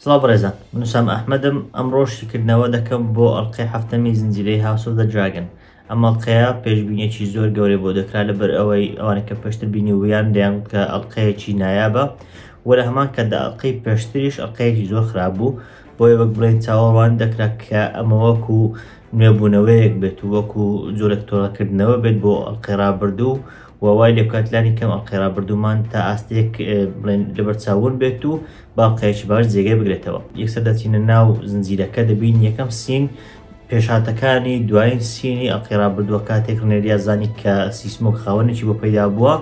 سڵاو بەڕێزان من سام ئەحمەدم ئەمڕۆ شیکردنەوە دەکەم بۆ ئەڵلقەی هەفتەمی زنجیرەی هاوسۆ دە دراگن ئەم ئەڵلقەیە پێشببینێکی زۆر گەورەی بۆ دەکرا لەبەر ئەوەی ئەوانە کە پێشتر بینی ویان دەیان کە ئەڵلقەیەکی نایابە وە لە هەمان کە داڵلقەی پێشتریش ئەڵلقەیەکی زۆر خراپ بوو بۆیە وەک بڵێن چاوەڕوان دەکرا کە ئەمە وەکو نوێبوونەوەیەک بێت و وەکو جۆرێک تۆڵەکردنەوە بێت بۆ ئەڵقەی ڕابردوو و وای لێ بکات لانی کەم ئەڵقەی ڕابردوومان تا ئاستێک بڵێن لەبەرچاوون بێت و باڵقەیەکی باش جێگەی بگرێتەوە یەکسەر دەچینە ناو زنجیرەکە دەبین یەکەم سین پێشاتەکانی دوایین سینی ئەڵقەی ڕابردووە کاتێک ڕنێریا زانی کە سیسمۆک خاوەنێکی بۆ پەیدا بووە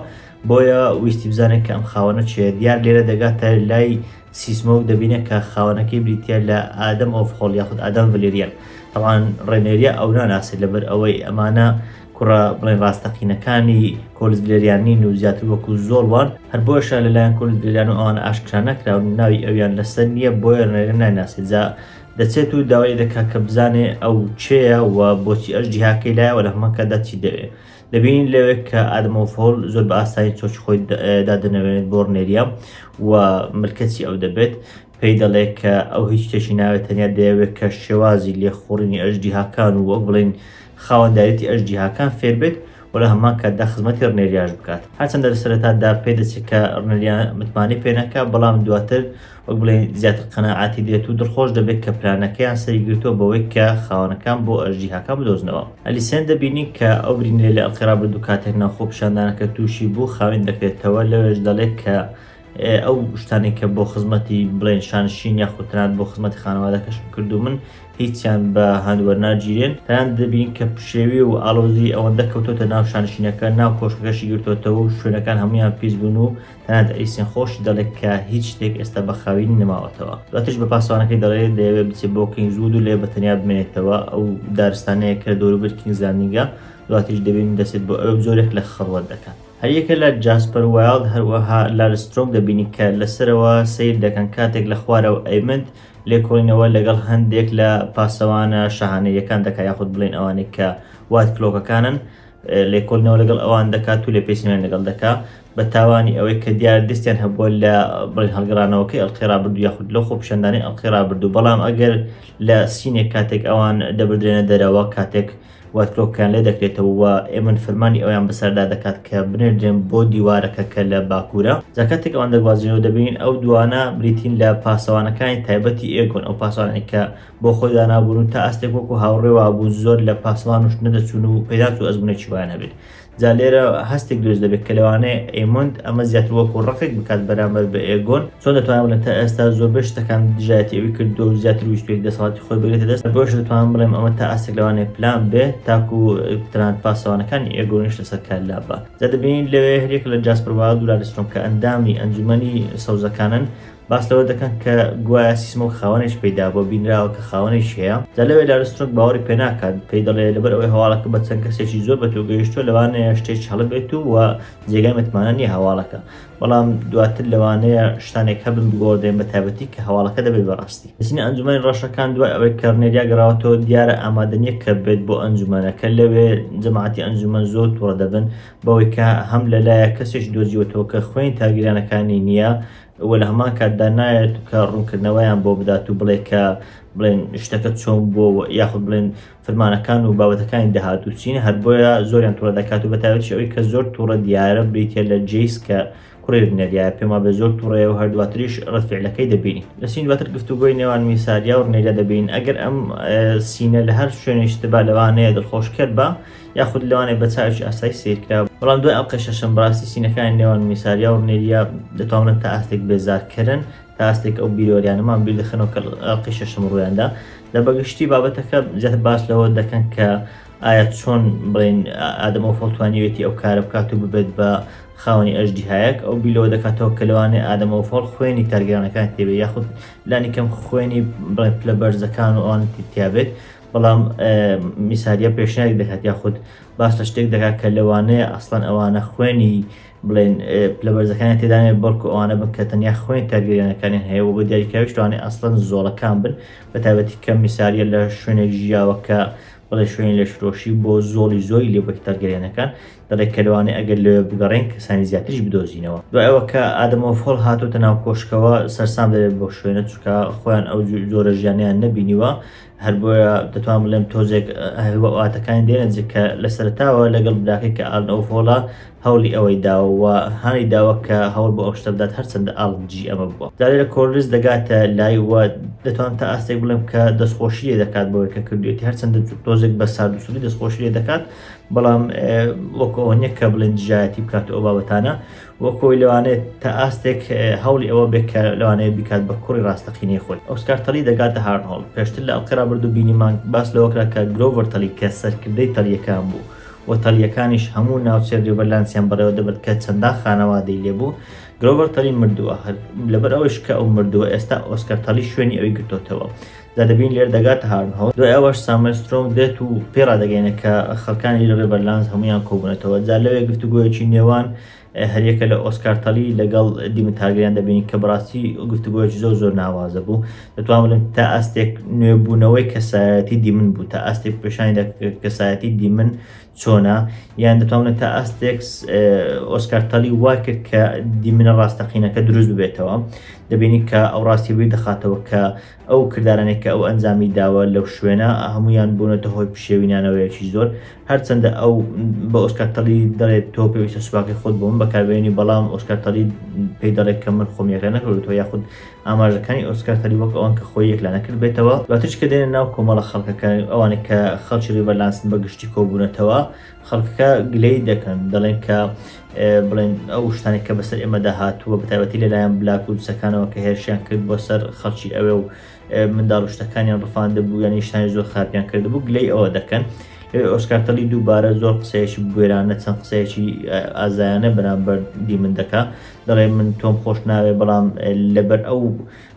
بۆیە ویستی بزانێت کە ئەم خاوەنە چێ دیار لێرە دەگاتە لای سیسمە و دەبینێ کە خاوەنەکەی بریتیە لە ئادەم ئۆفخۆڵ یاخود ئادام ڤلێریان تەبعان ڕێنێریا ئەو ناناسێت لەبەر ئەوەی ئەمانە کوڕە بڵێن ڕاستەقینەکانی کۆلز ڤلێریان نین و زیاتر وەکو زۆڵ وان هەر بۆشە لەلایەن کۆلز ڤلێریان و ئەوان ئاشکرا نەکراون و ناوی ئەویان لەسەر نییە بۆیە ڕێنێریا نایناسێت جا دەچێت و داوای لێ دەکات کە بزانێ ئەو کێیە و بۆچی ئەژدیهاکەی لایە و لە هەمان کاتدا چی دەوێ دەبینین لەوێک کە ئادمۆفۆل زۆر بە ئاسایی چۆچ خۆی دادەنەوێت بۆ ڕنێریە و ملکەچی ئەو دەبێت پێی دەڵێت کە ئەو هیچ شتێکی ناوێت تەنیا دەیەوێت کە شێوازی لێخوڕینی ئەژدیهاکان و وەک بڵین خاوەندارێتی ئەژدیهاکان فێر بێت و لە هەمان کاتدا خزمەتی ڕنێریاش بکات هەرچەندە لە سەرەتادا پێ دەچێت کە ڕنێریا متمانەی پێنەکە بەڵام دواتر وەک بڵێین زیاتر قەناعەتی دێت و دڵخۆش دەبێت کە پلانەکەیان سەری گرتووە بەوەی کە خاوەنەکان بۆ ئەژدیهاکان بدۆزنەوە. ئەلیسێن دەبینین کە ئەو برینەی لە ئەلقیرا بردوو کاتێک ناو خۆپیشاندانەکە تووشی بوو خاوێن دەکرێتەوە، لەوێش دەڵێت کە ئەو شتانەی کە بۆ خزمەتی بڵێین شانشین یاخود تەنانەت بۆ خزمەتی خانەوادەکەشم کردوومن هیچیان بە هەند وەرناگیرێن، تەنانەت دەبینین کە پشێوی و ئاڵۆزی ئەوەندە کەوتۆتە ناو شانشینەکە ناو کۆشکەکەشی گرتۆتەوە و شوێنەکان هەموویان پیس بوون و تەنانەت ئەیسێن خۆشی دەڵێت کە هیچ شتێک ئێستا بە خاوینی نەماوەتەوە دواتریش بە پاسەوانەکەی دەڵێت دەیەوێت بچێت بۆ کینگز وود و لێ بە تەنیا بمێنێتەوە ئەو دارستانەیە کە دەوروبەر کینگز لاندینگە دواتریش دەبینی دەچێت بۆ ئەوێ جۆرێک لە خەڵوەت دەکات هەریەکە لە جاسپەر وایڵد هەروەها لارسترۆنگ دەبینی کە لەسەرەوە سەیر دەکەن کاتێک لە خوارەوە ئەیمند لێکۆڵینەوە لەگەڵ هەندێک لە پاسەوانە شاهانەیەکان دەکات یاخود بڵێن ئەوانەی کە وات کلۆکەکانن لێکۆلینەوە لەگەڵ ئەوان دەکات و لێ پێچینەوەیان لەگەڵ دەکا بە تاوانی ئەوەی کە دیار دەستیان هەبووە لە بڵێن هەڵگەڕانەوەکەی ئەڵقەی ڕابردوو یاخود لەو خۆپیشاندانەی ئەڵقەی ڕابردوو بەڵام ئەگەر لە سینێک کاتێک ئەوان دەبدرێنە دەرەوە کاتێک وەرفرۆکیان لێ دەکرێتەوە و ئێمن فەرمانی ئەویان بەسەردا دەکات کە بنێردرێن بۆ دیوارەکە کە لە باکوورە جاکاتێک ئەوان دەگوازینەوە دەبین ئەو دوانە بریتین لە پاسەوانەکانی تایبەتی ئێگۆن ئەو پاسانێکە بۆ خۆی دانابوون و تا ئاستێک وەکو هاوڕێ وابوو زۆر لە پاسەوان وشت نەدەچوون و پێدات و ئەزمونێکی وایان هەبێت جا لێرە هەستێک دروست دەبێت کە لەوانەیە ئێمۆند ئەمە زیاتر وەکو ڕقێک بکات بەرامبەر بە ئێگۆن چۆن دەتوانم بڵێم تا ئێستا زۆربەی شتەکان دژایەتی ئەوی کردووە و زیاتر ویستوێت دەسەڵاتی خۆی بگرێتە دەست بۆش دەتوانم بڵێم ئەمە تا ئاستێک لەوانەیە پلان بێ تاکو تەنانەت پاسەوانەکانی ئێگۆنیش لەسەر کار لابا جا دەبینین لەوێ هەریەک لە جاسپەر وایڵد و لارسترۆم کە ئەندامی ئەنجومەنی سەوزەکانن باس لەوە دەکەن کە گوایە سیسمۆک خاوەنێش پەیدابووە بینراوە کە خاوەنێش هەیە جا لەوێ لارسترۆک باوەڕی پێ ناکات پێی دەڵێ لەبەر ئەوەی هەواڵەکە بە چەند کەسێکی زۆر بە تۆ گەیشتووە لەوانەیە شتێک هەڵبێت و وە جێگای متمانە نییە هەواڵەکە بەڵام دواتر لەوانەیە شتانێک هەبن بگۆڕدرێن بە تایبەتی کە هەواڵەکە دەبێت بەڕاستی نووسینی ئەنجومەنی ڕەشەکان دوای ئەوەی کەڕنێریا گەڕاوەتەوە دیارە ئامادە نییە کە بێت بۆ ئەنجومەنەکە لەوێ جەماعەتی ئەنجومەن زۆر توڕە دەبن بەوەی کە هەم لەلایە کەسێکی دۆزیوەتەوە کە خوێنی تاگیرانەکانی نییە و لە هەمان کاتدا نایەت کە ڕوونکردنەوەیان بۆ بدات و بڵێ کە بڵێن شتەکە چۆن بۆ یاخود بڵێن فرمانەکان و بابەتەکانی داهات و چین هەر بۆیە زۆریان توڕە دەکات و بەتاوێتی ئەوی کە زۆر توڕە دیارە بریتە لە جیس کە کوڕێ بنەریا پێما بە زۆر توڕێ و هەردواتریش ڕفعلەکەی دەبینین لە سین دواتر گفتوگۆی نێوان میساریا و ڕنێریا دەبین ئەگەر ئەم سینە لە هەر شوێنێشتبا لەوانەیە دڵخۆشکەر بە یاخود لەوانەیە بە چاوێکی ئاسایی سەیر کرا، بەڵام دوای ئەڵقەی شەشەم بەڕاستی سینەکانی نێوان میساریا و رنێریا دەتوانن تا ئاستێک بێزارکەرن، تا ئاستێک ئەو بیرۆریانەمان بیر دەخەنەوە کە لە ئەڵقەی شەشەم روویاندا، لە بەگشتی بابەتەکە زیاتر باس لەوە دەکەن کە ئایا چۆن بڵێین ئادەم ئۆفۆڵ توانیوێتی ئەو کارە بکات و ببێت بە خاوەنی ئەژدیهایەک، ئەو بیر لەوە دەکاتەوە کە لەوانەیە ئادەم ئۆفۆڵ خوێنی تارگیرانەکانی تێبێت یاخود لانیکەم خوێنی بڵێن پلە بەرزەکان و ئەوانی تر تیابێت، بەڵام میساریە پێشنیاری دەکات یاخود باس لە شتێک دەکات کە لەوانەیە ئەسڵەن ئەوانە خوێنی بڵێن لە بەرزەکانی تێدانێ بەڵکو ئەوانە بن کە تەنیا خوێن کارگەریانەکانی هەیە و بە دیاریکراویشتوانێ ئەسڵەن زۆڵەکان بن بە تابەتی کە میساریە لە شوێنێک ژیاوە کە بڵێ شوێنی لە شرۆشی بۆ زۆڵی زۆری لێ بەکتەرگەریانەکان دەڵێک کەلوانێ ئەگەر لەوێ بگەڕێن کەسانی زیاتریش بدۆزینەوە دوایەوە کە ئادەمەوە فۆڵ هاتوتە ناو کۆشکەوە سەرسام دەبێت بۆ شوێنە چکە خۆیان ئەو جۆرە ژیانیان نەبینیوە هەر بۆیە دەتوان بڵێم تۆزێک واتەکانی دێنجێک کە لە سەرتاوە لەگەڵ براکەی کە ئال ئەوفۆڵە هەوڵی ئەوەی داوە هانی داوە کە هەوڵ بۆ ئەوشتە بدات هەرچەندە ئاڵجی ئەمە بووە دارێ لە کۆرلز دەگاتە لای وە دەتوان تا ئاستێک بڵێم کە دەستخۆشی لێ دەکات بۆی کە کردوێتی هەرچەندە تۆزێک بە ساردوسری دەستخۆشی لێ دەکات بەڵام وەکەوە نیە کە بڵێن دژایەتی بکات ئەو بابەتانە وە کۆی لەوانێت تا ئاستێک هەوڵی ئەوە بێت کە لەوانەیە بیکات بە کوڕی ڕاستەقینەی خۆی ئۆسکار تەلی دەگاتە هارنۆڵ پێشتر لە ئەڵقەی ڕابردوو بینیمان باس لەوەکرا کە گرۆڤەر تەلی کە سەرکردەی تەلیەکان بوو و تەلیەکانیش هەموو ناوچەی ریڤەرلانسیان بەڕێوە دەبرد کە چەندان خانەوادەی لێبوو گرۆڤەر تەلی مردووە هەر لەبەر ئەوەش کە ئەو مردووە ئێستا ئۆسکار تەلی شوێنی ئەوی گرتۆتەوە دا دەبین لێرە دەگاتە هارنهۆڵ دوای ئەوەش ساموێل سترۆنگ دێت و پێی ڕادەگەینێت کە خەڵکانی لە ڕێبەرلانز هەموویان کۆبوونەتەوە جا لەوێ گفتوگۆیەکی نێوان هەریەکە لە ئۆسکار تەلی لەگەڵ دیمن تارگریان دەبین کە بەڕاستی گفتوگۆیەکی زۆر زۆر ناوازە بوو دەتوان بڵێن تا ئاستێک نوێبوونەوەی کەسایەتی دیمن بوو تا ئاستێک پێشانی کەسایەتی دیمن چۆنا یان دەتوان بڵێن تا ئاستێک ئۆسکار تەلی وای کرد کە دیمنە ڕاستەقینەکە دروست ببێتەوە دەبینی کە ئەو ڕاستی بی دەخاتەوە کە ئەو کردارانەی کە ئەو ئەنجامی داوە لەو شوێنە هەموویان بوونەتە هۆی پشێوی نانەوەیەکی زۆر هەرچەندە ئەو بە ئۆسکار تەلی دەڵێت تۆ پێویستە سوپاکەی خۆت بۆ من بەکاربێنی بەڵام ئۆسکار تەلی پێی دەڵێت کە من خۆم یەکلا نەکردووەتەوە یاخود ئاماژەکانی ئۆسکار تەلی وەک ئەوەن کە خۆی یەکلا نەکردبێتەوە دواتریش کە دێنە ناو کۆمەڵە خەڵکەکە ئەوانەی کە خەڵکی ڕیڤەرلانسن بە گشتی کۆبوونەتەوە خەڵکەکە گلەیی دەکەن دەڵێن کە بڵێن ئەو شتانێک کە بەسەر ئێمەدا هاتووە بەتابەتی لەلایەن بلاک و دوسەکانەوە کە هێرشیان کرد بۆ سەر خەڵکی ئەوێ و منداڵ شتەکانیان ڕفاندە بوو یانی شتانی زۆر خراپیان کردبوو گلەی ئەوە دەکەن ئۆسکارتەلی دووبارە زۆر قسەیەکی بگوێرانە چەند قسەیەکی ئازایانە بەرامبەر دی من دەکا دەڵێ من تۆم خۆش ناوێ بەڵام لەبەر ئەو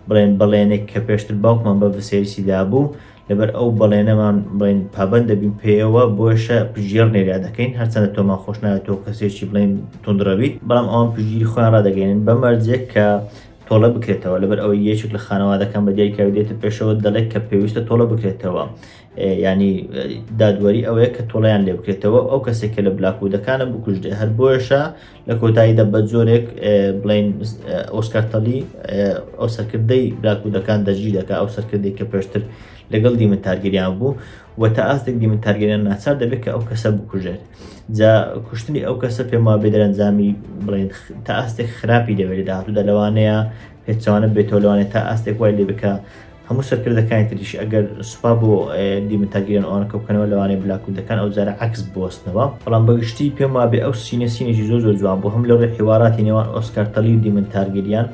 بڵێن بەڵێنێک کە پێشتر باوکمان بە ڤسێریسی دابوو لەبەر ئەو بەڵێنەمان بڵین پابەند دەبین پێیەوە بۆشە پژێڕ نێریا دەکەین هەرچەندە تۆمان خۆش ناتۆ کەسێکی بڵین تونندڕەویت بەڵام ئەوان پژگیری خۆیان ڕدەگەێنن بە مەرجێک کە تۆڵە بکرێتەوە لەبەر ئەوەی یەکێک لە خانەوادەکان بە دیای کاودێتە پێشەوە دەڵێت کە پێویستە تۆڵە بکرێتەوە ینی دادوەری ئەوەیە کە تۆڵیان لێ بکرێتەوە ئەو کەسێک کە لە بلاکوودەکانە بکوژدێ هەر بۆشە لە کۆتاییدا بە جۆرێک بڵین ئۆسکارتەلی ئەو سەرکردەی براکوودەکان دەژی دەکە ئەو سەرکردی کە پێشتر لەگەڵ دیمن تارگەریان بوو و تا ئاستێک دیمن تارگەریان ناچار دەبێت کە ئەو کەسە بکوژێت جا کوشتنی ئەو کەسە پێما بێدەرەنجامی بڵێن تا ئاستێک خراپی دەوێت داهاتوودا لەوانەیە پێچەوانە بێتەوە لەوانەیە تا ئاستێک وای لێ بکا هەموو سەرکردەکانی تریش ئەگەر سوپا بۆ دیمتاگیرن ئەوانە کەوکەنەوە لەوانەیە بلاکوردەکان ئەو جارە عکس بوەستنەوە بەڵام بەگشتی پێم وابێ ئەو سینە سینێکی زۆر زۆر جوان بوو هەم لە ڕێ حیوارەتی نێوان ئۆسکارتەلی و دیمن تارگریان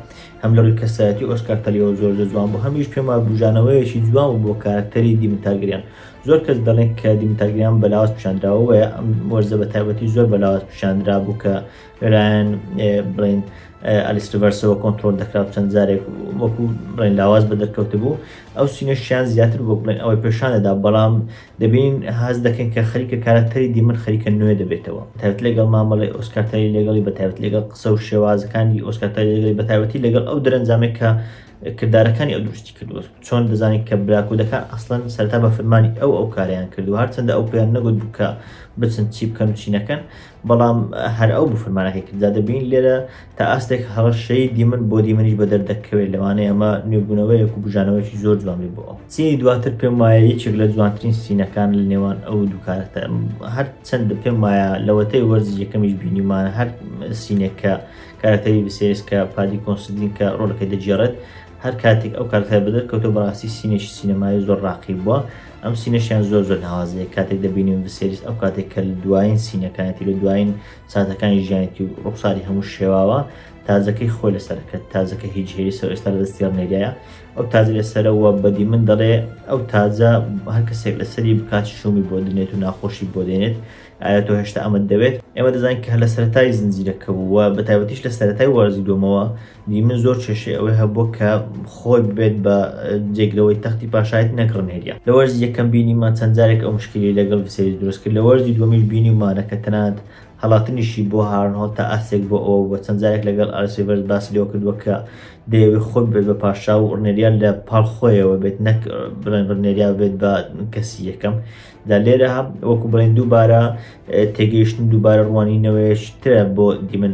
هەم لە ڕووی کەسایەتی ئۆسکارتەلیەوە زۆر زۆر جوان بوو هەمیش پێم وابێ بژانەوەیەکی جوان و بۆ کارکتەری دیمن تارگریان زۆر کەس دەڵێن کە دیمتاگریان بەلاوەز پیشاندراوەیە ئەم وەرزە بە تایبەتی زۆر بەلاوەز پیشاندرا بوو کە لەلایەن بڵێن ئەلیستڤەرسەوە کۆنتترۆل دەکرا و چەند جارێک وەکو بڵێن لاواز بە دەرکەوت بوو ئەو سینەشیان زیاتر بۆ بڵێن ئەوەی پێشانەدا بەڵام دەبین هاز دەکەن کە خەریکە کارکتەری دیمن خەریکە نوێ دەبێتەوە تایبەت لەگەڵ مامەڵی ئۆسکارتەری لەگەڵی بە تایبەت لەگەڵ قسە و شێوازەکانی ئۆسکارتەری لەگەڵی بە تایبەتی لەگەڵ ئەو دەرەنجامێک کە کردارەکانی ئەو دروستی کردوە چۆن دەزانین کە براکودەکان ئەسڵەن سەرتا بە فرمانی ئەو ئەو کاریان کردو هەرچەندە ئەو پێیان نەگوت بکە بچن چی بکەن و چینەکەن بەڵام هەر ئەو بفرمانەکەی کرددا دەبین لێرە تا ئاستێک هەڕەشەی دیمن بۆ دیمنیش بە دەردەکەوێت لەوانەیە ئەمە نوێبوونەوەیەک و بژانەوەیکی زۆر جوان بێ بۆ ئەو سینی دواتر پێم وایە یەکێک لە جوانترین سینەکان لە نێوان ئەو دوو کارەکتەر هەر چەندە پێم وایە لەوەتەی وەرزی یەکەمیش بینیمان هەر سینێک کە کارەکتەری بسێریس کە پادی کۆنسدین کە ڕۆلەکەی دەگێڕێت هەر کاتێک ئەو کارەکتەر بەدەرکەوتەوە بەڕاستی سینێکی سینەمایی زۆر ڕاقی بووە ئەم سینەشیان زۆر زۆر ناوازەیە کاتێک دەبینیم وسریس ئەو کاتێک کە دوایین سینەکانێتی لە دوایین ساتەکانی ژیانێتی و ڕوخساری هەموو شێواوە تازەکەی خۆی لەسەرەکە تازەکە هیچ هێری سەر ئێستا لە دەستیان نێریایە ئەو تازە لەسەرەوە بەدی من دەڵێ ئەو تازە هەر کەسێک لەسەری بکات شومی بۆ دنێت و ناخۆشی بۆ دێنێت ئایا تۆ هێشتا ئەمە دەوێت ئێمە دەزانین کە لە سەرای زنجیرەکە بووە بە تایبەتیش لە سەرای وەرزی دومەوە دی من زۆر کێشەی ئەوەی هەبووە کە خۆی ببێت بە جێگرەوەی تەختی پاشایت نەک ڕنێریا لە وەرزی یەکەم بینیمان چەند جارێک ئەو مشکلی لەگەڵ ڤسێریس دروست کرد لە وەرزی دووەمیش بینیمانە کە تەنانەت هەڵاتنیشی بۆ هارنهۆڵ تا ئاستێک بۆ ئەوە بووە چەند جارێک لەگەڵ ئارسیڤەرس باسی لەوە کردووە کە دەیەوێت خۆی ببێت بە پاشا و ڕنێریا لە پاڵ خۆیەوە بێت نەک بڵێن ڕنێریا بێت بە کەسی یەکەم دا لێرە هەم وەکو بڵێن دووبارە تێگەیشتن و دووبارە ڕوانی نەوەیشترە بۆ دیمن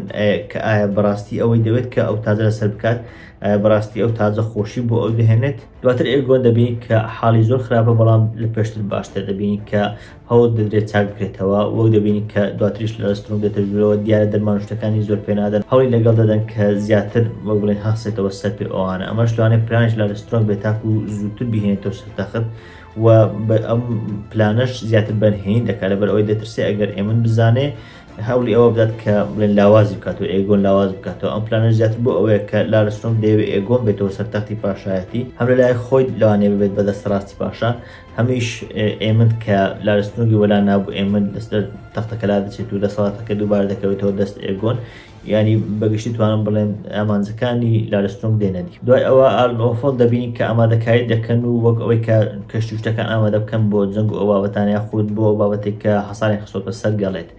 کە ئایا بەڕاستی ئەوەی دەوێت کە ئەو تازە لەسەر بکات بەڕاستی ئەو تازە خۆشی بۆ ئەو دەهێنێت دواتر ئێگۆ دەبین کە حاڵی زۆر خراپە بەڵام لە پێشتر باشتر دەبین کە هەوڵ دەدرێت چاک بکرێتەوە وەک دەبین کە دواتریش لە ڕسترۆم دەتەژورەوە دیارە دەرمان شتەکانی زۆر پێنادەن هەڵی لەگەڵ دەدەن کە زیاتر وەک بڵێن هەستێتەوە سەر پێ ئەوانە ئەمەش لەوانێ پرانش لە ڕسترۆم بێتاکو زووتر بهێنێتەوە سەر تەخت و ئەم پلانەش زیاتر بەرهێنی دەکات لەبەر ئەوەی دەترسێ ئەگەر ئێمن بزانێ هەولی ئەوە بدات کە بڵێن لاوازی بکات و ئێگۆن لاواز بکاتەوە ئەم پلانە زیاتر بۆ ئەوەیە کە لارستۆم دەیەوێ ئێگۆن بێتەوە سەر تەختی پاشایەتی هەم لای خۆی لەوانێ ببێت بە دەستڕاستی پاشا هەمیش ئێمن کە لارستۆنگی وەلا نابوو ئێمن دەستەر تەختەکەلا دەچێت و دەسەڵاتەکە دووبار دەکەوێتەوە دەست ئێگۆن یانی بە گشتی توانم بڵێم ئامانجەکانی لارستۆنگ دێنە دی. دوای ئەوە ئارن ئۆفڵ دەبینین کە ئامادەکاری دەکەن و وەک ئەوەی کە کەشتی و شتەکان ئامادە بکەن بۆ جەنگ و ئەو بابەتانە یاخود بۆ ئەو بابەتەی کە حەساریان خستۆتە سەر گەڵێت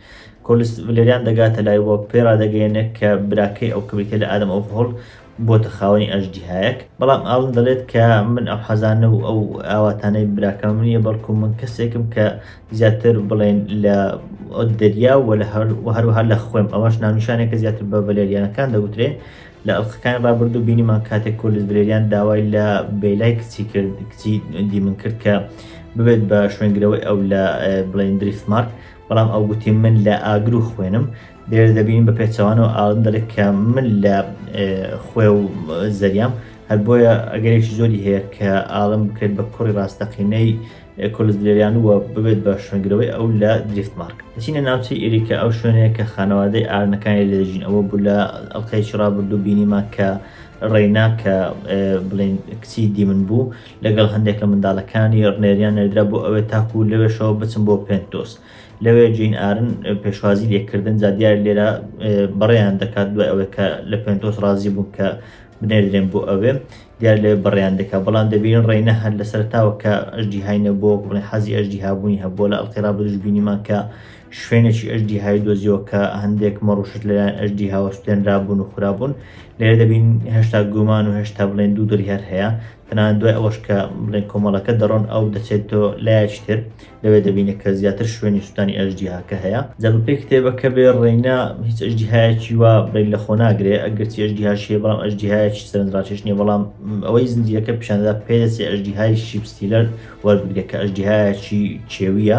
کۆلس ڤلێریان دەگاتە لای و پێی ڕادەگەیەنێ کە براکەی ئەو کە بریتیە لە ئادەم ئۆفڵ بۆتە خاوەنی ئەژدیهایەک بەڵام ئاڵن دەڵێت کە من ئەو حەزانە و ئەو ئاواتانەی براکەم نییە بەڵکو من کەسێکم کە زیاتر بڵێن لە دەریا و لە هەروەها لە خوێم ئەوەش ناونیشانێکە زیاتر بە ڤەلێریانەکان دەوترێ لە ئەڵلقەکانی ڕابردوو بینیمان کاتێک کۆلت ڤلێریان داوای لە بێلای کچی کرد کچی دیمن کرد کە ببێت بە شوێنگرەوەی ئەو لە بڵێن دریفمارک بەڵام ئەو گوتی من لە ئاگر و خوێنم لێرە دەبین بە پێچەوانەوە ئاڵن دەڵێت کە من لە خوێ و زەریام هەر بۆیە ئەگەرێکی زۆری هەیە کە ئاڵم بکرێت بە کوڕی ڕاستەقینەی کۆلزلێریان وە ببێت بە شوێنگرەوەی ئەو لە دریفت مارک دەچینە ناوچەی ئێریکە ئەو شوێنەیە کە خانەوادەی ئارنەکانی لێژین ئەوە بوو لە ئەڵلقەیەکی ڕابردوو بینیمان کە ڕێنا کە بڵێن کچی دیمن بوو لەگەڵ هەندێک لە منداڵەکانی ڕنێریان نەدرا بۆ ئەوێ تاکو لەوێشەوە بچم بۆ پێنتۆست لەوێ جین ئارن پێشوازی لێکردن جا دیار لێرە بەڕێیان دەکات دوای ئەوەی کە لە پێنتۆس ڕازی بوو کە بنێردرێن بۆ ئەوێ دیار لێ بەڕێیان دەکات بەڵام دەبین ڕێینە هەر لە سەرتاوە کە ئەژدی هاینە بۆ بڵێ حەزی ئەژدی هابوونی هەبووە لە ئەڵقی ڕابدوش بینیمان کە شوێنێکی ئەژدی های دۆزیەوە کە هەندێک مەڕوشت لەلایەن ئەژدی هاوە سوێنرابوون و خراببوون لێرە دەبین هێشتا گومان و هێشتا بڵێن دوو دڵی هەر هەیە تەنانەت دوای ئەوەش کە بڵێن کۆمەڵەکە دەڕۆن ئەو دەچێت تۆ لایەکی تر لەوێ دەبینە کە زیاتر شوێنی سووتانی ئەژدیهاکە هەیە جا بە پێی کتێبەکە بێ ڕێینا هیچ ئەژدیهایەکی وا بڵێن لە خۆ ناگرێ ئەگەرچی ئەژدیهاش هەیە بەڵام ئەژدیهایەکی سەرنجڕاکێش نییە بەڵام ئەوەی زنجیرەکە پیشاندەدا پێدەچێ ئەژدیهای شیپ ستیلەر وەربگرێت کە ئەژدیهایەکی کێوییە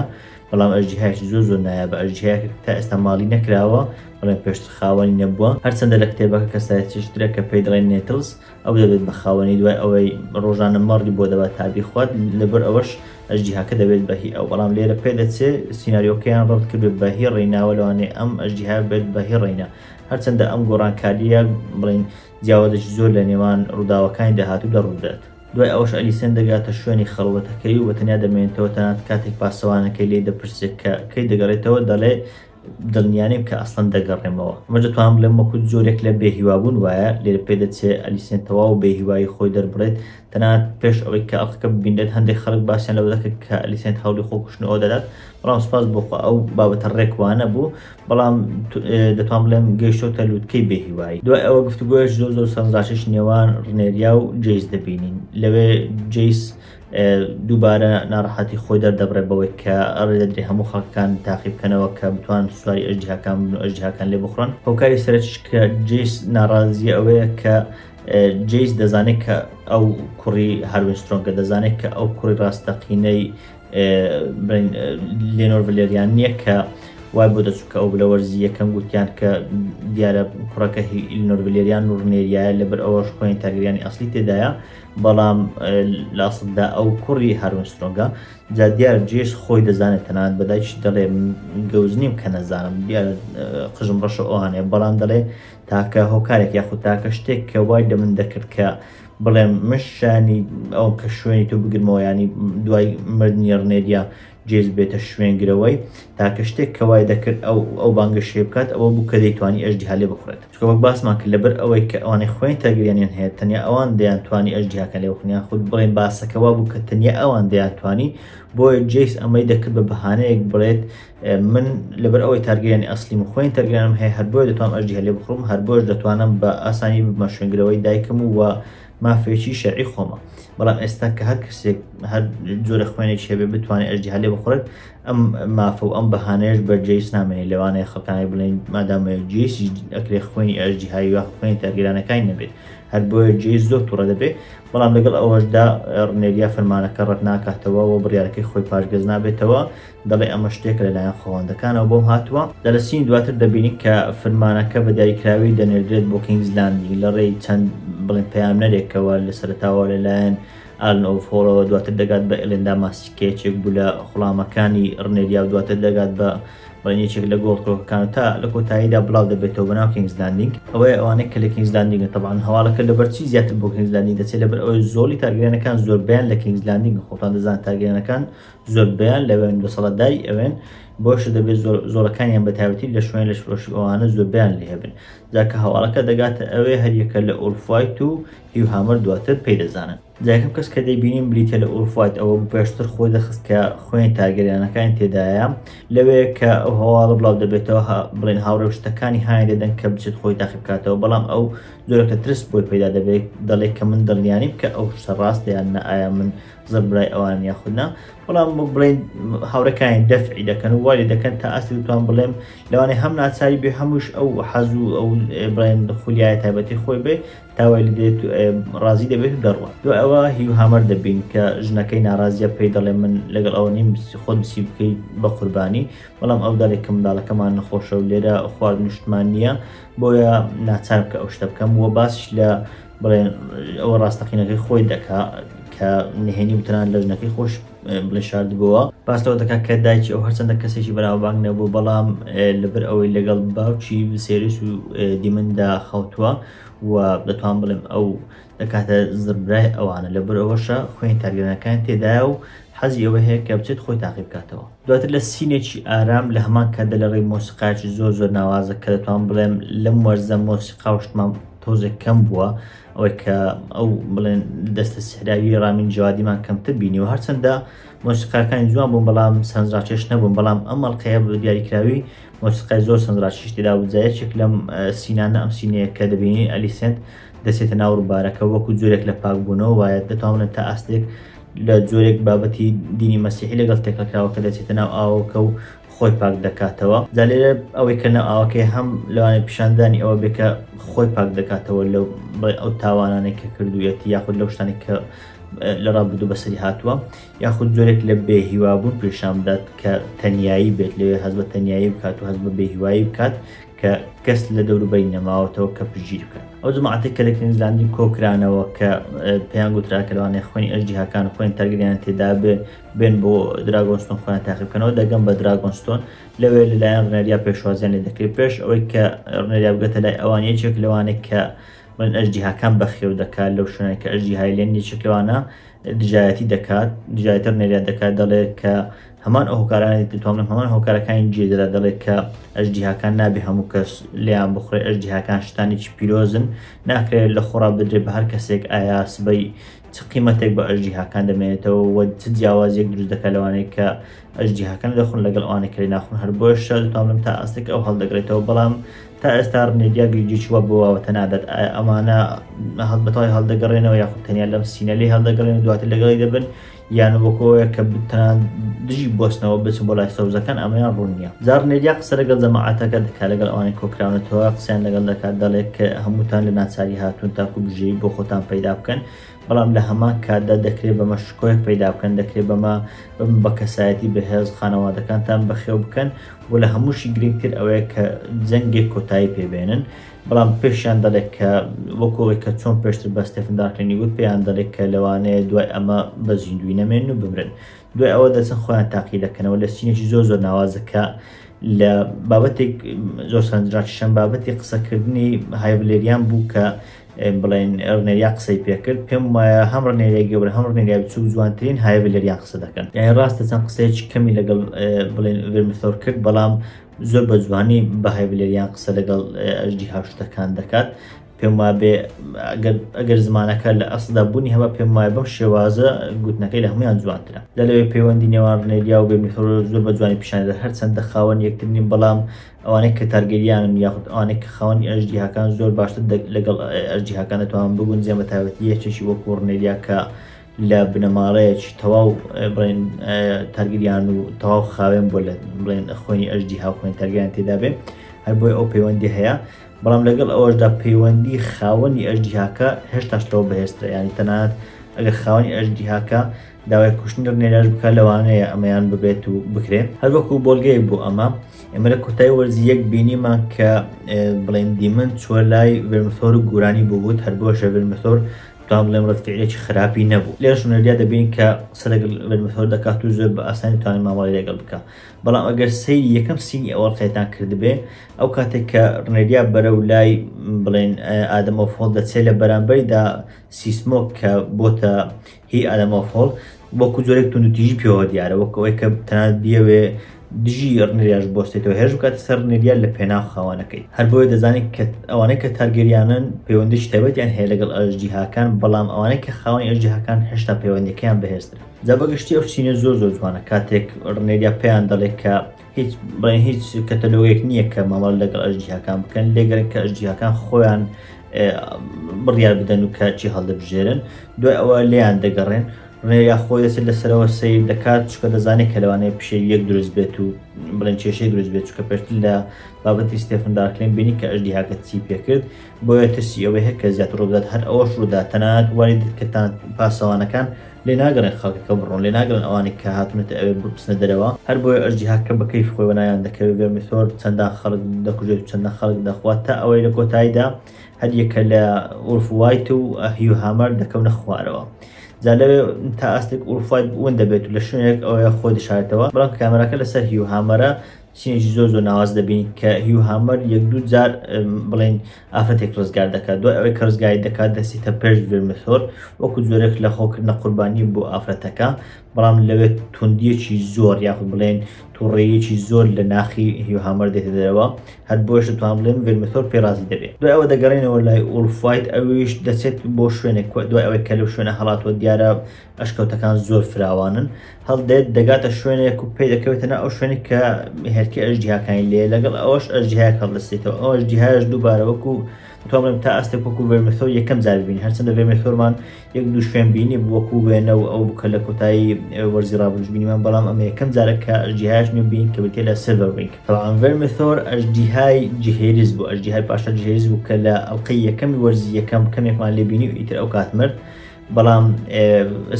بەڵام ئەژدیهایەکی زۆر زۆر نایابە ئەژدیهایەک تا ئێستا ماڵی نەکراوە بەڵێن پێشتر خاوەنی نەبووە هەرچەندە لە کتێبەکە کەسایەتیشترە کە پێی دەڵێن نێتلز ئەو دەبێت بە خاوەنی دوای ئەوەی ڕۆژانە مەڕی بۆ دەبات تا بیخوات لەبەر ئەوەش ئەژدیهاکە دەبێت بە هی ئەو بەڵام لێرە پێ دەچێ سیناریۆکەیان ڕەت کردێت بە هی ڕێیناوە لەوانەیە ئەم ئەژدیها بێت بە هی ڕێینا هەرچەندە ئەم گۆڕانکاریە بڵین جیاوازێکی زۆر لە نێوان ڕووداوەکانی داهاتوو دەڕوودات دوای ئەوش ئەلیسێن دەگاتە شوێنی خەڵوەتەکەی و بەتەنیا دەمێنێتەوە تەنانەت کاتێک پاسەوانەکەی لێی دەپرسێت کە کەی دەگەڕێتەوە دەڵێ دڵنیا نیم کە ئەسڵەن دەگەڕێمەوە. ئەمەش دەتوانم بڵێم وەکو جۆرێک لە بێهیوابوون وایە، لێرە پێدەچێ ئەلیسێن تەواو بێهیوایی خۆی دەربڕێت. تەنانەت پێش ئەوەی کە ئەڵقەکە ببینرێت، هەندێک خەڵک باسیان لەوە دەکرد کە ئەلیسێنت هەوڵی خۆکوشتنەوە دەدات، بەڵام سوپاس بۆ خوا ئەو بابەتە ڕێک وانەبوو، بەڵام دەتوانم بڵێم گەیشتۆتە لووتکەی بێهیوایی. دوای ئەوە گفتوگۆیەکی زۆر زۆر سەرنجڕاکێشی نێوان ڕنێریا و جەیس دەبینین. لەوێ جەیس دووبارە ناڕەحەتی خۆی دەردەبڕێت بەوەی کە ئەڕێ دەدرێ هەموو خەڵکەکان تاقی بکەنەوە کە بتوان سواری ئەژدیهاکان بن و ئەژدیهاکان لێ بخڕن هۆکاری سەرەکیش کە جیس ناڕازیە ئەوەیە کە جیس دەزانێت کە ئەو کوڕی هەروین سترۆنگە دەزانێت کە ئەو کوڕی ڕاستەقینەی لێنۆر ڤلێریان نییە کە وای بۆ دەچوو کە ئەو لە وەرزی یەکەم گوتیان کە دیارە کوڕەکە هی ئیلنۆر ڤلێریان و ڕنێریایە لەبەر ئەوەش خۆیان تاگریانی ئەاصلی تێدایە بەڵام لاسددا ئەو کوڕی هارون سترۆنگە جا دیار جێش خۆی دەزانێت تەنانەت بەدایکیش دەڵێ گەوج نیم کە نەزانم دیار قژم ڕەشە ئەوانێ بەڵام دەڵێ تاکە هۆکارێک یاخود تاکە شتێک کە وای لە من دەکرد کە بڵێم مشانی ئەو کە شوێنی تۆ بگرمەوە ینی دوای مردنی ڕنێریە جێز بێتە شوێن گرەوەی، تاکە شتێک کە وای دەکرد ئەو ئەو بانگەشەیە بکات ئەوە بوو کە دەیتوانی ئەژدیها لێ بخورێت، چونکە وەک باسمان کرد لەبەر ئەوەی کە ئەوانەی خۆیان تەرگریەنیان هەیە تەنیا ئەوان دەیان توانی ئەژدیهاکە لێ بخورن یان خود بڵێین باسەکە وا بوو کە تەنیا ئەوان دەیان توانی بۆیە جێیس ئەمەی دەکرد بە بەهانەیەک بڵێت من لەبەر ئەوەی تارگریانی ئەسلیم و خۆیان تەرگریانم هەیە هەر بۆیە دەتوانم ئەژدیها لێ بخڕم هەر بۆیەش دەتوانم بە ئاسانی ببمە شوێنگرەوەی دایکم و مافێکی شەرعی خۆمە بەڵام ئێستا کە هەر کەسێک هەر جۆرە خوێنێک هەبێ بتوانێت ئەژدی هەلێ بخورێت ئەم مافە و ئەم بەهانێش بەرجەیس نامێنێت لەوانەیە خەکانی بڵێن مادامە جێسی ئەکرێ خوێنی ئەژدی هاوی وە خوێنی تاگرانەکانی نەبێت هەر بۆیە جێ زۆر توڕە دەبێت بەڵام لەگەڵ ئەوەشدا ڕنێریا فەرمانەکە ڕەت ناکاتەوە و بڕارەکەی خۆی پاشگەز نابێتەوە دەڵێ ئەمە شتێکە لەلایەن خۆڵەندەکانەوە بۆم هاتووە. لە لەسینی دواتر دەبینین کە فرمانەکە بە دیاریکراوی دەنێردرێت بۆ کینگز لاندینگ لە ڕێی چەند بڵێن پەیامنەرێکەوە لە سەرەتاوە لەلایەن ئالن ئۆف هۆڵەوە دواتر دەگات بە ئێلێندا ماسک کە یەکێک بوو لە خوڵامەکانی ڕنێریا و دواتر دەگات بە بڵێن یەکێک لە گۆڵ کۆکەکان تا لە کۆتاییدا بڵاو دەبێتەوە بەناو کینگز لاندینگ ئەوەیە ئەوانەی کە لە کینگز لاندینگە تەبعەن هەواڵەکە لەبەر چی زیاتر بۆ کینگز لاندینگ دەچێت لەبەر ئەوەی زۆڵی تارگەرێنەکان زۆربەیان لە کینگز لاندینگ خۆتان دەزانن تارگەرێنەکان زۆربەیان لەوێن دەسەڵاتداری ئەوێن بۆشە دەبێت زۆرەکانیان بەتاوەتی لە شوێن لەش فرۆشی ئەوانە زۆربیان لێ هەبن جاکە هەواڵەکە دەگاتە ئەوێ هەریەکە لە ئۆرفایت و هیوهامەر دواتر پێی دەزانن جاکەم کەس کە دەیبینین بریتە لە ئۆرفایت ئەوە پێشتر خۆی دەخست کە خوێن تاگەریانەکانی تێدایە لەوێ کە ئەو هەواڵە بڵاو دەبێتەوە بڵێن هاوڕێ شتەکانی هاان دەدەن کە بچێت خۆی تاقی بکاتەوە بەڵام ئەو زۆرەکە ترس بۆی پێدا دەبێت دەڵێت کە من دڵنیانیم کە ئەو شتە ڕاستیان نە ئایا من زەر برای ئەوان یاخود نا بەڵام بڵێن هاورەکانی دەفعی دەکەن و وای دەکەن تا ئاستی توان بڵێم لەوانێ هەم ناچاری بێ هەموش ئەو حەز و ئەو بڵێن خولیای تایبەتی خۆی بێ تاوای لە دێت ڕازی دەبێت و دەڕوە دو ئەوە هیو هامەر دەبین کە ژنەکەی ناڕازیە پێی دەڵێ من لەگەڵ ئەوە نیم خۆت بسی بکەی بە قوربانی بەڵام ئەو دارێک کە منداڵەکەمان نەخۆشە و لێرە خوارد نیشتمان نییە بۆیە ناچار بکە ئەو شتە بکەم و باش لە بڵێ ئەوە ڕاستەقینەکەی خۆی دەکا کە نهێنی و تەنان لەژنەکەی خۆش بڵێ شاردبووە باس لەوە دەکات کە دایکی ئەو هەرچەندە کەسێکی بەناوبانگ نەبوو بەڵام لەبەر ئەوەی لەگەڵ باوکی سێرێس و دیمندا خەوتووە و دەتوان بڵێم ئەو دەکاتە زربرای ئەوانە لەبەر ئەوەشە خوێن تارگەرەکان تێدایە و حەزی ئەوە هەیە کە بچێت خۆی تاقی بکاتەوە دواتر لە سینێکی ئارام لە هەمان کاتدا لە ڕێی مۆسیقاچی زۆر زۆر ناوازە کە دەتوان بڵێم لەم وەرزە مۆسیقا و شتمان تۆزێک کەم بووە ئەوەی کە ئەو بڵێن دەستە سحراوی ڕامین جوادیمان کەمتر بینی و هەرچەندە مۆسیقاکانی جوان بوون بەڵام سەنجڕاکێش نەبوون بەڵام ئەم مەڵقەیە بە دیاریکراوی مۆسیقای زۆر سەنجڕاکیش تێدا و جایەکێک لەم سینانە ئەم سینەیە کە دەبینی ئەلیسنت دەسێتە ناو ڕووبارەکە وەکو جۆرێک لە پاکبوونەوە وایە دەتوانن تا ئاستێک لە جۆرێک بابەتی دینی مەسیحی لەگەڵ تێکەکراوە کە دەچێتە ناو ئاوەکە و خۆی پاک دەکاتەوە جا لێرە ئەوەی کە ناو ئاوەکەی هەم لەوانەیە پیشاندانی ئەوە بێ کە خۆی پاک دەکاتەوە لەو بڵێ ئەو تاوانانەی کە کردوویەتی یاخود لەو شتانی کە لە ڕابدو بەسەری هاتووە یاخود جۆرێک لە بێ هیوابوون پیشان بدات کە تەنایی بێت لەوێ هەز بە تەنایی بکات و هەز بە بێ هیوایی بکات کە کەس لە دەوروبەری نەماوەتەوە کە پژیر بکەن ئەو جماعاتێک کە لە کنزلاندی کۆکرانەوە کە پێیان گوترا کە لەوانەیە خوێنی ئەژدیهاکان خوێن تەرگریان تێدا بێ بێن بۆ دراگۆنستۆن خۆیان تاقی بکەنەوە دەگەم بە دراگۆنستۆن لەوێ لەلایەن ڕنەریا پێشوازیان لێ دەکرێت پێش ئەوەی کە ڕنەریا بگەتە لای ئەوان یەکێک لەوانێک کە من ئەژدیهاکان بەخێو دەکات لەو شوێنە کە ئەژدی هایلێن یەکێک لەوانە دژایەتی دەکات دژایەتە ڕنەریا دەکات دەڵێت کە هەمان ئەو هۆکارانی دەتوانم هەمان هۆکارەکانی جێدەدا دەڵێت کە ئەژدیهاکان نابێ هەموو کەس لیان بخورێ ئەژدیهاکان شتانێکی پیرۆزن ناکرێت لە خۆڕا بدرێت بە هەر کەسێک ئایا سبەی چ قیمەتێک بە ئەژدیهاکان دەمێنێتەوە و چ جیاوازیەک دروست دەکات لەوانەیە کە ئەژدیهاکان دەخون لەگەڵ ئەوانە کەی ناخون هەر بۆ شەرتاملم تا ئاستێک ئەو هەڵدەگرێتەوە بەڵام تا ئێستا ڕنێدیا گریجیچ وە بۆواوەتە نادات ئەمانە هەڵبەتەوەی هەڵدەگەڕێنەوە یاخود تەنیا لەم سینەلی هەڵدەگەڕێن دواتر لەگەڵی دەبن یان وەکۆیە کە بتان دژی بستنەوە بچن بۆ لای سەوزەکان ئەمەیان ڕوونیە جاڕ مێدیا قسە لەگەڵ جەماعەتەکە دەکات، لەگەڵ ئەوانەی کۆکراونەتەوە قسەیان لەگەڵ دەکات، دەڵێت کە هەمووتان لە ناچاری هاتوون تاکو بژێوی بۆ خۆتان پەیدا بکەن، بەڵام لە هەمان کاتدا دەکرێت بەمە شکۆیەک پەیدا بکەن، دەکرێت بەمە ببن بە کەسایەتی بەهێز، خانەوادەکانتان بەخێو بکەن و لە هەمووشی گرنگتر ئەوەیە کە جەنگێک کۆتایی پێ بێنن، بەڵام پێشیان دەڵێت کە وەکو ئەوەی کە چۆن پێشتر بە ستێفن دارکلینی وت پێیان دەڵێت کە لەوانەیە دوای ئەمە بە زیندووی نەمێنن و بمرن. دوای ئەوە دەچن خۆیان تاقی دەکەنەوە لە سینێکی زۆر زۆر ناوازە کە لە بابەتێک زۆر سەرنجڕاکیشم بابەتی قسەکردنی هایڤلێریان بوو کە بڵێن ڕنێریا قسەی پێکرد پێم وایە هەم ڕنێریا گەورە هەم ڕنێریا بچوو جوانترین هایڤلێریان قسە دەکەن یان ڕاستە چەند قسەیەکی کەمی لەگەڵ بڵێن ڤرمثۆر کرد بەڵام زۆر بە جوانی بە هایڤلێریان قسە لەگەڵ ئەژدی هاشتەکان دەکات پێم وابێ ئەگەر زمانەکە لە ئەسدا بوونی هەمە پێم وایە بەم شێوازە گوتنەکەی لە هەمویان جوانترە لە لەوێ پەیوەندی نێوان ڕنێریا و بێمیخۆ زۆر بە جوانی پیشاندا هەر چەندە خاوەن یەکترنی بەڵام ئەوانەی کە تارگەریانن یاخود ئەوانەی کە خاوەنی ئەژدیهاکان زۆر باشتر لەگەڵ ئەژدیهاکان دەتوان بگون جێ بە تایبەتی یەکێکی وەکو ڕنێریا کە لە بنەماڵەیەکی تەواو بڵێن تارگریان و تەواو خاوێن بۆ لە بڵێن خۆنی ئەژدی هاوخۆێن تەرگیان تێدا بێ هەر بۆی ئەو پەیوەندی هەیە بەڵام لەگەڵ ئەوەشدا پەیوەندی خاوەنی ئەژدیهاکە هێشتاش لەوە بەهێزترە یانی تەنانەت ئەگەر خاوەنی ئەژدیهاکە داوای کوشتنی ڕنێراش بکات لەوانەیە ئەمەیان ببێت و بکرێت هەروەکو بۆلگەیەک بۆ ئەمە ئێمە لە کۆتای وەرزی یەک بینیمان کە بڵێن دیمن چوە لای ڤێرمسۆر و گورانی بووبوت هەر بۆ شەڤێر مسۆر توان بڵێم ڕستفعلێکی خراپی نەبوو لێش نەریا دەبین کە قسە لەگەڵ ڤێرمسۆر دەکات و زۆر بە ئاسانی توانین مامەڵی لەگەڵ بکە بەڵام ئەگەر سەیری یەکەم سینی ئەوەڵقێتان کردبێ ئەو کاتێک کە ڕنێریا بەرەو لای بڵێن ئادەم ئۆفۆڵ دەچێت لە بەرامبەریدا سیسمۆک کە بۆتە هی ئادەم ئۆفۆڵ وەکو جۆرێک توندتیژی پێوە دیارە وەکو ئەوەی کە تەنات بیەوێ دژی ڕنێریاش بۆستێتەوە هێرش بکاتە سەر ڕنێریا لە پێناو خاوانەکەی هەر بۆیە دەزانین کە ئەوانەی کە تارگەریانن پەیوەندیش تایبەتیان هەیە لەگەڵ ئەژدیهاکان بەڵام ئەوانەی کە خاوەنی ئەژدیهاکان هێشتا پەیوەندەکەیان بەهێزترە جا بەگشتی ئەو چینە زۆر زۆر جوانە کاتێک ڕنێریا پێیان دەڵێت کە هیچ بڵێن هیچ کەتەلۆگێک نییە کە مامەڵ لەگەڵ ئەژدیهاکان بکەن لێگەرن کە ئەژدیهاکان خۆیان بڕیار بدەن و کاچی هەڵدەبژێرن دوای ئەوە لێیان دەگەڕێن ڕێیا خۆی دەسێت لەسەرەوە سیر دەکات چکە دەزانێت کە لەوانەیە پیشێ یەک دروست بێت و بڵێن کێشەی دروست بێت چکە پێشتر لە بابەتی ستێفندارکلێن بینی کە ئەژدی هاکە چی پێکرد بۆیە ترسی ئەوەی هەر کە زیاتر ڕووبدات هەر ئەوەش ڕوودا تەنانەت وای دەکردان پاسەوانەکان لێ ناگەڕێن خەڵکەکە بڕۆن لێ ناگەڕێن ئەوانەی کە هاتوونەتە ئەوێ بچنە دەرەوە هەر بۆیە ئەژدی هاککە بە کەیفی خۆی وەلایان دەکەوێت ڤێرمیثۆر چەندان خەڵک دەکوژێت و چەندان خەڵک دەخوات تا ئەوەی لە کۆتاییدا هەر یەکە لە ئورف وایت و هیو هامەر دەکەونە خوارەوە جا لەوێ تا ئاستێک ئورف وایت ون دەبێت و لە شوێنێک ئەوەیە خۆی دەشارێتەوە بەڵام کامێراکە لەسەر هیو هامەرە سینێکی زۆر زۆر ناواز دەبین کە هیو هامەر یەک دوو جار بڵێن ئافرەتێک ڕزگار دەکات دوای ئەوەی کە ڕزگاری دەکات دەستێتە پێش ڤێرمسۆر وەکو زۆرێک لە خۆکردنە قوربانی بۆ ئافرەتەکە بەڵام لەوێت توندیەکی زۆر یاخود بڵێن توڕێیەکی زۆر لە ناخی هیو هامەر دێتە دەرەوە هەر بۆش توان بڵێن ڤێرمسۆر پێڕازی دەبێت دوای ئەوە دەگەڕێنەوە لای ئولفایت ئەویش دەچێت بۆ شوێنێک دوای ئەوەی کە لەو شوێنە هەڵاتوە دیارە ئەشکەوتەکان زۆر فراوانن، هەڵدێت دەگاتە شوێنێک و پێی دەکەوێتە ناو ئەو شوێنێک کە هێلکەی ئەژدیهاکانی لێیە، لەگەڵ ئەوەش ئەژدیهایەک هەڵدەستێتەوە، ئەو ئەژدیهایەش دووبارە وەکو دەتوانم بڵێم تا ئاستێک وەکو ڤێرمیثۆر یەکەم جار ببینین، هەرچەندە ڤێرمیثۆرمان یەک دوو شوێن بینیبوو وەکو وێنە و ئەو بووکە لە کۆتایی وەرزی ڕابردووش بینیمان، بەڵام ئەمە یەکەم جارە کە ئەژدیهایەک نوێ بینین کە بریتییە لە سیلڤەر وینگ. تەبعەن ڤێرمیثۆر ئەژدیهای جهێریس بوو، ئەژدیهای پاشا جهێریس بوو کە لە ئەڵقەی یەکەمی وەرزی یەکەم کەمێکمان لێ بینی و ئیتر ئەوکات مرد، بەڵام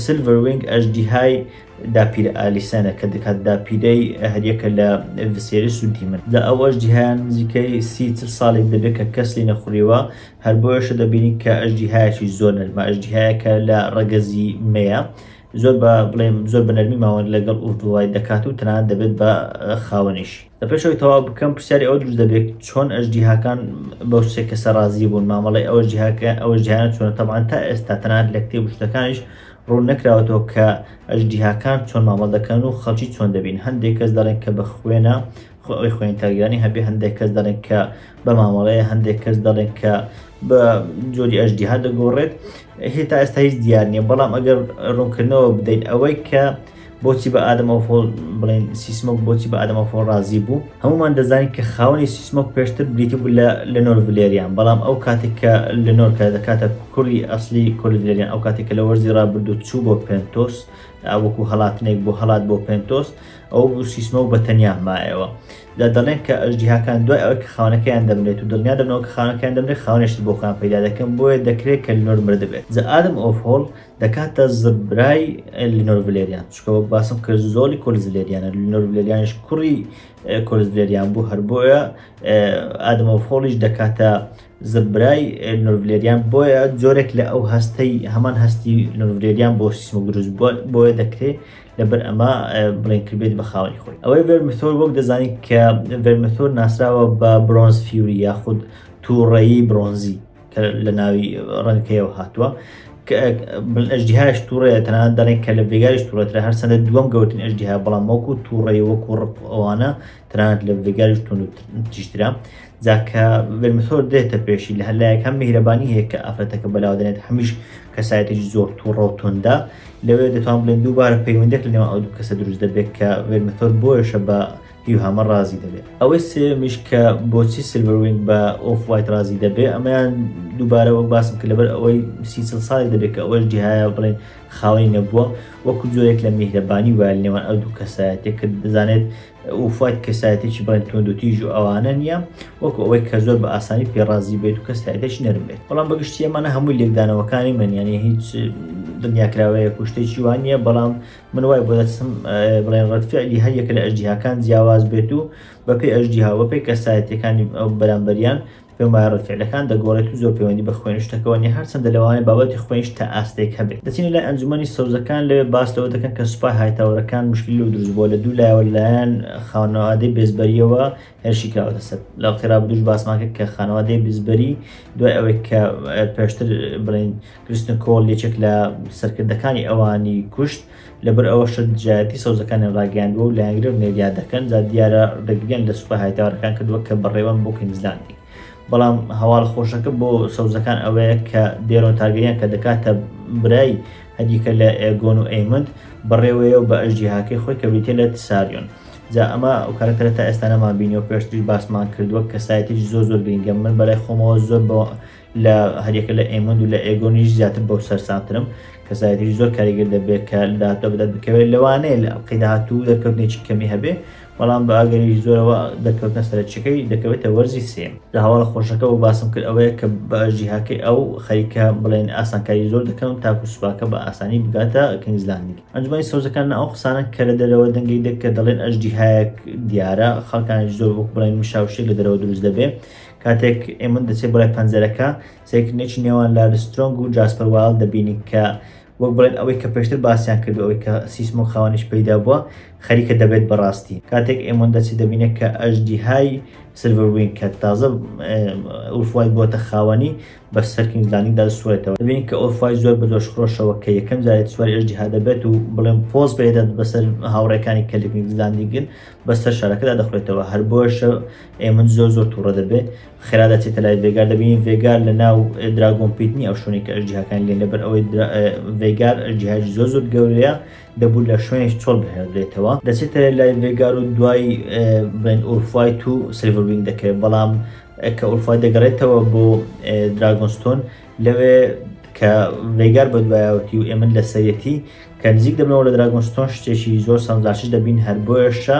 سلڤەر وینگ ئەژدیهای داپیرە ئالیسانە کە دەکات داپیرەی هەریەکە لە ڤسێریس و دیمن لە ئەو ئەژدیهایان نزیکەی سی چل ساڵێک دەبێت کە کەس لی نەخوریوە هەر بۆیەشە دەبینین کە ئەژدیهایەکی زۆر نەرمە ئەژدیهایەکە لە ڕەگەزی مەیە زۆر بە بڵێم زۆر بە نەرمی ماوەند لەگەڵ ئوڤدوای دەکات و تەنانەت دەبێت بە خاوەنیش. لە پێش ئەوەی تەواو بکەم پرسیاری ئەوە دروست دەبێت چۆن ئەژدیهاکان بەو سێ کەسە ڕازی بوون مامەڵی ئەوە جیهاکە ئەوە جیهانە چۆنە تەبان تا ئێستا تەنات لە کتێب شتەکانیش ڕوون نەکراوەتەوە کە ئەژدیهاکان چۆن مامەڵ دەکەن و خەڵکی چۆن دەبین هەندێک کەس دەڵێن کە بە خوێنە خۆی خوێن تاگیرانی هەبێ هەندێک کەس دەڵێن کە بە مامەڵەیە هەندێک کەس دەڵێن کە بە جۆری ئەژدیها دەگۆڕێت هێتا ئێستا هیچ دیار نییە بەڵام ئەگەر ڕوونکردنەوە بدەین ئەوەی کە بۆچی بە ئادەم ئۆف هۆڵ بڵێین سیسمۆک بۆچی بە ئادەم ئۆف هۆڵ ڕازی بوو هەمومان دەزانین کە خاوەنی سیسمۆک پێشتر بریتی بوو لە لنۆر ڤلێریان بەڵام ئەو کاتێک کە لنۆر کە دەکاتە کوڕی ئەسلی کۆلی ڤلێریان ئەو کاتێک کە لە وەرزی ڕابردوو چوو بۆ پێنتۆس وەکو هەڵاتنێک بۆ هەڵات بۆ پێنتۆس ئەو بوو سیسمۆک بە تەنیا مایەوە دا دەڵێن کە ئەژدیهاکان دوای ئەوەی کە خاونەکەیان دەمرێت و دڵنیا دەبنەوە کە خاونەکەیان دەمرێت خاونێشت بۆ خۆیان پەیدا دەکەن بۆیە دەکرێت کە لنۆر مردبێت زە ئادەم ئۆف هۆڵ دەکاتە زبرای لینۆر ڤلێریان چکە وەک باسم کرد زۆری کۆلز لێریانە لینۆر ڤلێریانش کوڕی کۆلز لێریان بوو هەر بۆیە ئادەمە فۆڵیش دەکاتە زبرای نورڤلێریان بۆیە جۆرێک لە ئەو هەستەی هەمان هەستی نورڤلێریان بۆ سیسم و دروست بووە بۆیە دەکرێت لەبەر ئەمە بڵێن کردبێت بە خاوەنی خۆی ئەوەی ڤێرمثۆر وەک دەزانین کە ڤێرمثۆر ناسراوە بە برۆنز فیوری یاخود تووڕەیی برۆنزی کە لە ناوی ڕەنگەکەیەوە هاتووە ئەژدیهاش تووڕەیە تەنان دەڵێن کە لە ڤێگاش توورەترە هەر سەدە دووەم گەوتن ئەژدیها بەڵام وەکو تووڕێ وەکو ڕق ئەوانە تەنانەت لە ڤێگاش تون تیشترا جاکە ڤێرمسۆر دێتە پێشی لە هەلایەکە میهرەبانی هەیە کە ئافرەتەکە بەلاو دەێت هەمیش کەسایەتێکی زۆر تووڕە و توندا لەوێ دەتوان بڵێن دووبارە پەیوەندێک لەنێوان ئەو دوو کەسە دروست دەبێت کە ڤێرمسۆر بۆیشە بە هیوهامە ڕازی دەبێ. ئەوەی سێیەمیش کە بۆچی سیلڤەروینگ بە ئۆف وایت ڕازی دەبێ ئەمەیان دووبارە وەک باسم کرد لەبەر ئەوەی سی چڵ ساڵی دەبێت کە ئەوەش جیهایە بڵێن خاوەنی نەبووە وەکو جۆرێک لە میهرەبانی وایە لە نێوان ئەو دوو کەسایەتێک کە دەزانێت ئۆف وایت کەسایەتێکی بڵێن توند و تیژ و ئەوانە نییە وەکو ئەوەی کە زۆر بە ئاسانی پێ ڕازی بێت و کەسایەتێکی نەرم بێت بەڵام بە گشتی ئەمانە هەمووی لێکدانەوەکانی من یانێ هیچ دنیاکراوەیەک و شتێکی وان نییە بەڵام من وای بۆ دەچم بڵێن ڕەتفعلی هەر یەکە لە ئەژدیهاکان جیاواز بێت و بەپێی ئەژدیها بەپێی کەسایەتەکانی ئەو بەرامبەریان پێم وایە ڕەتفعلەکان دەگۆڕێت و زۆر پەیوەندی بە خوێن شتەکەوە نیە هەرچەندە لەوانەیە بابەتی خوێنش تا ئاستێک هەبێت دەچینە لای ئەنجومەنی سەوزەکان لەوێ باس لەوە دەکەن کە سوپای هایتاوەرەکان مشکلی لەو دروست بووە لە دوو لایەوە لەلایەن خانەوادەی بێزبەریەوە هێرشی کراوەتە سەر لە وەختی ڕابردووش باسمان کرد کە خانەوادەی بزبەری دوای ئەوەی کە پێشتر بڵین کریستن کۆڵ یەکێک لە سەرکردەکانی ئەوانی کوشت لەبەر ئەوەشە دژایەتی سەوزەکانیان ڕاگەیاندووە و لایەنگرە و نێریا دەکەن جا دیارە ڕێگریان لە سوپا هایتاوەرەکان کردووە کە بەڕێوەن بۆ کوینزلاندی بەڵام هەواڵ خۆشەکە بۆ سەوزەکان ئەوەیە کە دێرۆن تارگەریان کە دەکاتە برای هەدیکە لە ئێگۆن و ئەیمند بەڕێوەیە و بە ئەژدیهاکەی خۆی کە بریتە لە تساریۆن جا ئەمە ئەو کارەکتەرە تا ئێستانەمان بینیەوە پێشتریش باسمان کردووە کەسایەتیش زۆر زۆر گرنگە من بەلای خۆمەوە زۆر بە لە هەریەکە لە ئێمەند و لە ئێگۆنیش زیاتر بەو سەرسامترم کەسایەتیش زۆر کاریگەر دەبێت کە لە داهاتوە بدەت بکەوێت لەوانەیە لە ئەڵقەی داهاتوو دەرکەوتنێکی کەمی هەبێ بەڵام بە ئەگەری زۆرەوە دەرکەوتنە سەرچەکەی دەکەوێتە وەرزی سێم لە هەواڵە خۆشەکە و باسم کرد ئەوەیە کە بە جیهاکەی ئەو خەریکە بڵێن ئاسانکاری زۆر دەکەم تاکو سوپاکە بە ئاسانی بگاتە کینگزلاندی ئەنجومی سەوزەکان ئەو قسانە کە لە دەرەوە دەنگی دەک کە دەڵێن ئەژدیهایەک دیارە خەڵکانیش زۆر وەک بڵێن مشاوشێک لە دەرەوە دروست دەبێ کاتێک ئێمن دەچێت بۆ لای پەنجەرەکە، سەیرکردنێکی نێوان لارس سترۆنگ و جاسپەر وایڵد دەبینین کە وەک بڵێن ئەوەی کە پێشتر باسیان کردووە، ئەوەی کە سیسمۆ خاوەنیش پێیدا بووە، خەریکە دەبێت بە ڕاستی. کاتێک ئێمن دەچێت دەبینێت کە ئەژدیهای سیلڤەر وینگ کە تازە ئۆف وایت بووەتە خاوەنی، بە سەر کینگز لاندینگدا دەسوڕێتەوە. دەبینین کە ئۆف وایت زۆر بە جۆشخرۆشەوە کە یەکەم جارێت سواری ئەژدیها دەبێت و بڵێم پۆز پێدەدات بەسەر هاوڕێکانی کە لە کینگز لاندینگن بەسەر شارەکەدا دەخورێتەوە، هەر بۆیەشە ئێ من زۆر زۆر توڕە دەبێ خێرا دەچێتە لای ڤێگار دەبینین ڤێگار لە ناو دراگۆن پیت نیە ئەو شوێنی کە ئەژدیهاکان لێن لەبەر ئەوەی ڤێگار ئەژدیهاج زۆر زۆر گەورەیە دەبوو لە شوێنش چۆڵ بهێنرێتەوە دەچێتە لای ڤێگار و دوای بڵێن ئورفایت و سلڤربینگ دەکەێت بەڵام کە ئورفای دەگەڕێتەوە بۆ دراگۆنستۆن لەوێ کە ڤێگار بە دوایەوەتی و ئێمن لە سەرەتی کە نزیک دەبنەوە لە دراگۆنستۆن شتێکی زۆر سەمزاشش دەبین هەر بۆێشە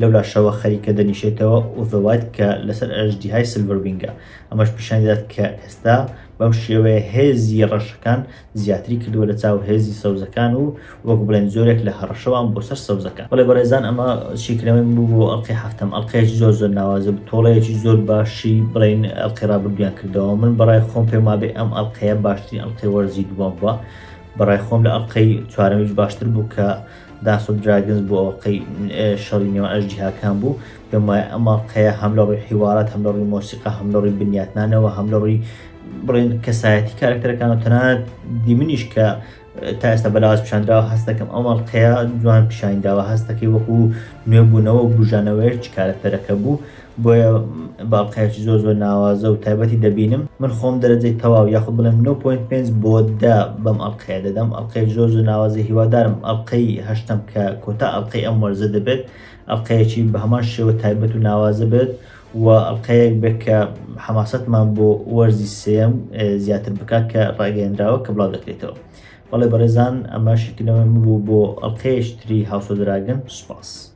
لەولاشەوە خەریکە دەنیشێتەوە ئۆڤێ وایت کە لەسەر ئەژدیهای سلڤەر وینگە، ئەمەش پیشانی دەدات کە ئێستا بەم شێوەیە هێزی ڕەشەکان زیاتری کردووە لەچاو هێزی سەوزەکان و وەک بڵێن جۆرێک لە هەڕەشەوان بۆ سەر سەوزەکان. بەڵێ بەڕێزان ئەمە شیکردنەوەی من بوو بۆ ئەڵقەی هەفتەم، ئەڵقەیەکی زۆر زۆر ناوازە بوو، تۆڵەیەکی زۆر باشی بڵێین ئەڵقەی ڕابردوویان کردەوە، من بەڕای خۆم پێم وابێ ئەم ئەڵقەیە باشترین ئەڵقەی وەرزی دووەم بووە، بەڕای خۆم لە ئەڵقەی چوارەمیش باشتر بوو کە دانس ئۆف دراگنز بوو ئەڵقەی شەڕی نێوان ئەژدیهاکان بوو پێم وایە ئەم ئەڵقەیە هەم لە ڕووی حیوارات هەم لە ڕووی مۆسیقا هەم لە ڕووی بنیاتنانەوە هەم لە ڕووی بڵێن کەسایەتی کارکتەرەکان و تەنانەت دیمنیش کە تا ئێستا بەلاواز پیشاندراوە هەست دەکەم ئەم ئەڵقەیە جوان پیشانداوە هەستەکەی وەکو نوێبوونەوە و بژانەوەیەکی کارکتەرەکە بوو بۆیە باڵقەیەکی زۆر زۆر ناوازە و تایبەتی دەبینم من خۆم دەرەجەی تەواو یاخود بڵێم 9.5 بۆ دە بەم ئەڵقەیە دەدەم ئەڵقەیەکی زۆر زۆر ناوازە هیوادارم ئەڵقەی هەشتەم کە کۆتا ئەڵقەی ئەم وەرزە دەبێت ئەڵقەیەکی بە هەمان شێوە تایبەت و ناوازە بێت و ئەڵقەیەک بێت کە حەماسەتمان بۆ وەرزی سێم زیاتر بکات کە ڕاگەیەنراوە کە بڵاو دەکرێتەوە بەڵێ بەڕێزان ئەمە شکردنەوەی من بوو بۆ ئەڵقەیەشتری هاوسۆ دراگن سوپاس